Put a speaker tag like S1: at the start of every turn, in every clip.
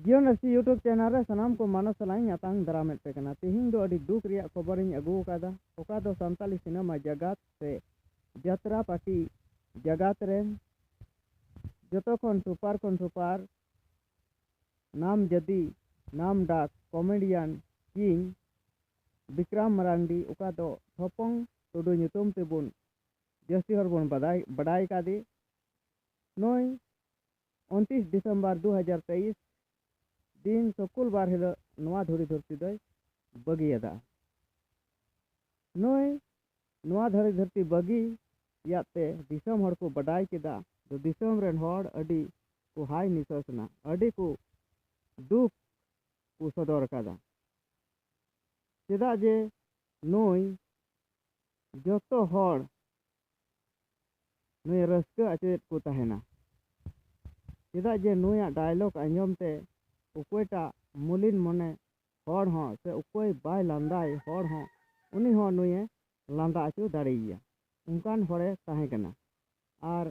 S1: ᱡᱤᱭᱚᱱ S T YouTube channel ᱨᱮ ᱥᱟᱱᱟᱢ ᱠᱚ ᱢᱟᱱᱚ ᱥᱟᱞᱟᱜ ᱤᱧ ᱟᱛᱟᱝ ᱫᱟᱨᱟᱢᱮᱫ ᱯᱮ ᱠᱟᱱᱟ ᱛᱮᱦᱮᱧ ᱫᱚ ᱟᱹᱰᱤ ᱫᱩᱠ ᱨᱮᱭᱟᱜ ᱠᱷᱚᱵᱚᱨ ᱤᱧ ᱟᱹᱜᱩ ᱟᱠᱟᱫᱟ ᱚᱠᱟ ᱫᱚ ᱥᱟᱱᱛᱟᱞᱤ ᱥᱤᱱᱮᱢᱟ ᱡᱟᱜᱟᱛ ᱥᱮ ᱡᱟᱛᱨᱟ ᱯᱟᱴᱤ ᱡᱟᱜᱟᱛ ᱨᱮ ᱡᱚᱛᱚ ᱠᱷᱚᱱ ᱥᱩᱯᱟᱨ ᱠᱷᱚᱱ ᱥᱩᱯᱟᱨ ᱱᱟᱢ ᱡᱟᱫᱤ ᱱᱟᱢ ᱰᱟᱠ ᱠᱚᱢᱮᱰᱤᱭᱟᱱ ᱠᱤᱝ ᱵᱤᱠᱨᱟᱢ ᱢᱟᱨᱟᱱᱰᱤ ᱚᱠᱟ ᱫᱚ ᱴᱷᱚᱯᱚᱝ ᱴᱩᱰᱩ ᱧᱩᱛᱩᱢ ᱛᱮᱵᱚᱱ ᱡᱟᱹᱥᱛᱤ ᱦᱚᱲ ᱵᱚᱱ ᱵᱟᱰᱟᱭ ᱵᱟᱰᱟᱭ ᱠᱟᱫᱮ ᱱᱩᱭ ᱩᱱᱛᱤᱥ ᱰᱤᱥᱮᱢᱵᱚᱨ ᱫᱩ ᱦᱟᱡᱟᱨ ᱛᱮᱭᱤᱥ ᱫᱤᱱ ᱥᱩᱠᱩᱞ ᱵᱟᱨ ᱦᱤᱞᱳᱜ ᱱᱚᱣᱟ ᱫᱷᱩᱲᱤ ᱫᱷᱟᱹᱨᱛᱤ ᱫᱚᱭ ᱵᱟᱹᱜᱤᱭᱟᱫᱟ ᱱᱩᱭ ᱱᱚᱣᱟ ᱫᱷᱩᱲᱤ ᱫᱷᱟᱹᱨᱛᱤ ᱵᱟᱹᱜᱤ ᱭᱟᱫ ᱛᱮ ᱫᱤᱥᱚᱢ ᱦᱚᱲ ᱠᱚ ᱵᱟᱰᱟᱭ ᱠᱮᱫᱟ ᱫᱚ ᱫᱤᱥᱚᱢ ᱨᱮᱱ ᱦᱚᱲ ᱟᱹᱰᱤ ᱠᱚ ᱦᱟᱭ ᱱᱤᱥᱟᱹᱥ ᱮᱱᱟ ᱟᱹᱰᱤ ᱠᱚ ᱫᱩᱠ ᱠᱚ ᱥᱚᱫᱚᱨ ᱟᱠᱟᱫᱟ ᱪᱮᱫᱟᱜ ᱡᱮ ᱱᱩᱭ ᱡᱚᱛᱚ ᱦᱚᱲ ᱱᱩᱭ ᱨᱟᱹᱥᱠᱟᱹ ᱟᱪᱚᱭᱮᱫ ᱠᱚ ᱛᱟᱦᱮᱱᱟ ᱪᱮᱫᱟᱜ ᱡᱮ ᱱᱩᱭᱟᱜ ᱰᱟᱭᱞᱚᱜᱽ ᱟᱸᱡᱚᱢ ᱛᱮ ᱚᱠᱚᱭᱴᱟᱜ ᱢᱩᱞᱤᱱ ᱢᱚᱱᱮ ᱦᱚᱲ ᱦᱚᱸ ᱥᱮ ᱚᱠᱚᱭ ᱵᱟᱭ ᱞᱟᱸᱫᱟᱭ ᱦᱚᱲ ᱦᱚᱸ ᱩᱱᱤ ᱦᱚᱸ ᱱᱩᱭᱮ ᱞᱟᱸᱫᱟ ᱟᱪᱚ ᱫᱟᱲᱮᱭᱟᱭᱟ ᱚᱱᱠᱟᱱ ᱦᱚᱲᱮ ᱛᱟᱦᱮᱸ ᱠᱟᱱᱟ ᱟᱨ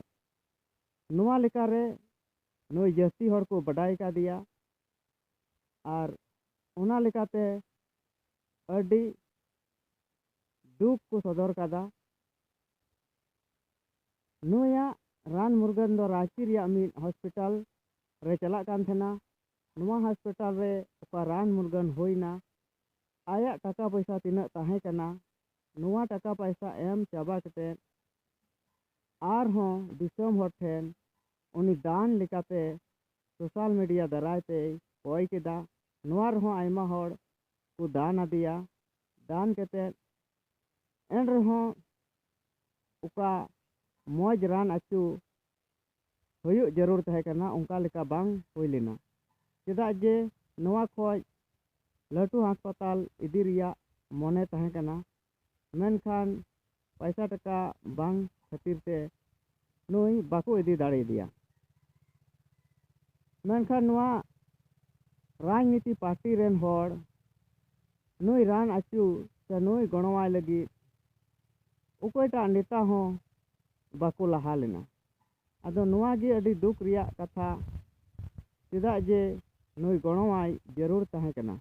S1: ᱱᱚᱣᱟ ᱞᱮᱠᱟᱨᱮ ᱱᱩᱭ ᱡᱟᱹᱥᱛᱤ ᱦᱚᱲ ᱠᱚ ᱵᱟᱰᱟᱭ ᱠᱟᱫᱮᱭᱟ ᱟᱨ ᱚᱱᱟ ᱞᱮᱠᱟᱛᱮ ᱟᱹᱰᱤ ᱫᱩᱠ ᱠᱚ ᱥᱚᱫᱚᱨ ᱟᱠᱟᱫᱟ᱾ ᱱᱩᱭᱟᱜ ᱨᱟᱱ ᱢᱩᱨᱜᱟᱹᱱ ᱫᱚ ᱨᱟᱺᱪᱤ ᱨᱮᱭᱟᱜ ᱢᱤᱫ ᱦᱚᱥᱯᱤᱴᱟᱞ ᱨᱮ ᱪᱟᱞᱟᱜ ᱠᱟᱱ ᱛᱟᱦᱮᱸᱱᱟ᱾ ᱱᱚᱣᱟ ᱦᱚᱥᱯᱤᱴᱟᱞ ᱨᱮ ᱚᱠᱟ ᱨᱟᱱ ᱢᱩᱨᱜᱟᱹᱱ ᱦᱩᱭ ᱮᱱᱟ᱾ ᱟᱭᱟᱜ ᱴᱟᱠᱟ ᱯᱚᱭᱥᱟ ᱛᱤᱱᱟᱹᱜ ᱛᱟᱦᱮᱸ ᱠᱟᱱᱟ᱾ ᱱᱚᱣᱟ ᱴᱟᱠᱟ ᱯᱟᱭᱥᱟ ᱮᱢ ᱪᱟᱵᱟ ᱠᱟᱛᱮ ᱟᱨ ᱦᱚᱸ ᱫᱤᱥᱚᱢ ᱦᱚᱲ ᱴᱷᱮᱱ ᱩᱱᱤ ᱫᱟᱱ ᱞᱮᱠᱟᱛᱮ ᱥᱚᱥᱟᱞ ᱢᱤᱰᱤᱭᱟ ᱫᱟᱨᱟᱭ ᱛᱮᱭ ᱠᱚᱭ ᱠᱮᱫᱟ᱾ ᱱᱚᱣᱟ ᱨᱮᱦᱚᱸ ᱟᱭᱢᱟ ᱦᱚᱲ ᱠᱚ ᱫᱟᱱ ᱟᱫᱮᱭᱟ ᱫᱟᱱ ᱠᱟᱛᱮ ᱮᱱ ᱨᱮᱦᱚᱸ ᱚᱠᱟ ᱢᱚᱡᱽ ᱨᱟᱱ ᱟᱹᱪᱩ ᱦᱩᱭᱩᱜ ᱡᱟᱹᱨᱩᱲ ᱛᱟᱦᱮᱸ ᱠᱟᱱᱟ ᱚᱱᱠᱟ ᱞᱮᱠᱟ ᱵᱟᱝ ᱦᱩᱭ ᱞᱮᱱᱟ ᱪᱮᱫᱟᱜ ᱡᱮ ᱱᱚᱣᱟ ᱠᱷᱚᱡ ᱞᱟᱹᱴᱩ ᱦᱟᱥᱯᱟᱛᱟᱞ ᱤᱫᱤ ᱨᱮᱭᱟᱜ ᱢᱚᱱᱮ ᱛᱟᱦᱮᱸ ᱠᱟᱱᱟ ᱢᱮᱱᱠᱷᱟᱱ ᱯᱚᱭᱥᱟ ᱴᱟᱠᱟ ᱵᱟᱝ ᱠᱷᱟᱹᱛᱤᱨ ᱛᱮ ᱱᱩᱭ ᱵᱟᱠᱚ ᱤᱫᱤ ᱫᱟᱲᱮᱭᱟᱫᱮᱭᱟ ᱢᱮᱱᱠᱷᱟᱱ ᱱᱚᱣᱟ ᱨᱟᱡᱽᱱᱤᱛᱤ ᱯᱟᱨᱴᱤ ᱨᱮᱱ ᱦᱚᱲ ᱱᱩᱭ ᱨᱟᱱ ᱟᱹᱪᱩ ᱥᱮ ᱱᱩᱭ ᱜᱚᱲᱚᱣᱟᱭ ᱞᱟᱹᱜᱤᱫ ᱚᱠᱚᱭᱴᱟᱜ ᱱᱮᱛᱟ ᱦᱚᱸ ᱵᱟᱠᱚ ᱞᱟᱦᱟ ᱞᱮᱱᱟ ᱟᱫᱚ ᱱᱚᱣᱟ ᱜᱮ ᱟᱹᱰᱤ ᱫᱩᱠ ᱨᱮᱭᱟᱜ ᱠᱟᱛᱷᱟ ᱪᱮᱫᱟᱜ ᱡᱮ ᱱᱩᱭ ᱜᱚᱲᱚᱣᱟᱭ ᱡᱟᱹᱨᱩᱲ ᱛᱟᱦᱮᱸ ᱠᱟᱱᱟ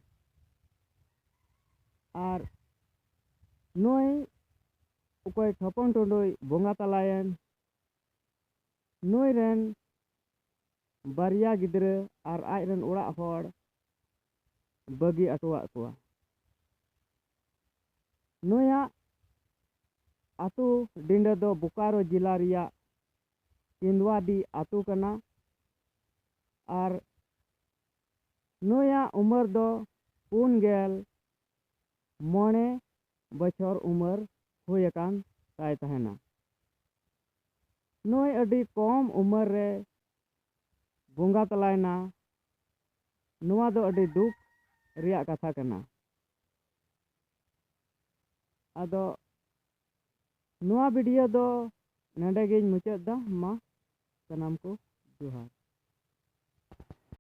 S1: ᱟᱨ ᱱᱩᱭ ᱚᱠᱚᱭ ᱴᱷᱚᱯᱚᱝ ᱴᱩᱰᱩᱭ ᱵᱚᱸᱜᱟ ᱛᱟᱞᱟᱭᱮᱱ ᱱᱩᱭ ᱨᱮᱱ ᱵᱟᱨᱭᱟ ᱜᱤᱫᱽᱨᱟᱹ ᱟᱨ ᱟᱡ ᱨᱮᱱ ᱚᱲᱟᱜ ᱦᱚᱲ ᱵᱟᱹᱜᱤ ᱟᱴᱚᱣᱟᱜ ᱠᱚᱣᱟ ᱱᱩᱭᱟᱜ ᱟᱛᱳ ᱰᱤᱸᱰᱟᱹ ᱫᱚ ᱵᱳᱠᱟᱨᱳ ᱡᱮᱞᱟ ᱨᱮᱭᱟᱜ ᱠᱮᱸᱫᱽᱣᱟᱰᱤ ᱟᱛᱳ ᱠᱟᱱᱟ ᱟᱨ ᱱᱩᱭᱟᱜ ᱩᱢᱮᱨ ᱫᱚ ᱯᱩᱱ ᱜᱮᱞ ᱢᱚᱬᱮ ᱵᱚᱪᱷᱚᱨ ᱩᱢᱮᱨ ᱦᱩᱭ ᱟᱠᱟᱱ ᱛᱟᱭ ᱛᱟᱦᱮᱱᱟ᱾ ᱱᱩᱭ ᱟᱹᱰᱤ ᱠᱚᱢ ᱩᱢᱮᱨ ᱨᱮ ᱵᱚᱸᱜᱟ ᱛᱟᱞᱟᱭᱮᱱᱟ᱾ ᱱᱚᱣᱟ ᱫᱚ ᱟᱹᱰᱤ ᱫᱩᱠ ᱨᱮᱭᱟᱜ ᱠᱟᱛᱷᱟ ᱠᱟᱱᱟ᱾ ᱟᱫᱚ ᱱᱚᱣᱟ ᱵᱷᱤᱰᱤᱭᱳ ᱫᱚ ᱱᱚᱰᱮ ᱜᱤᱧ ᱢᱩᱪᱟᱹᱫ ᱮᱫᱟ᱾ ᱢᱟ ᱥᱟᱱᱟᱢ ᱠᱚ ᱡᱚᱦᱟᱨ᱾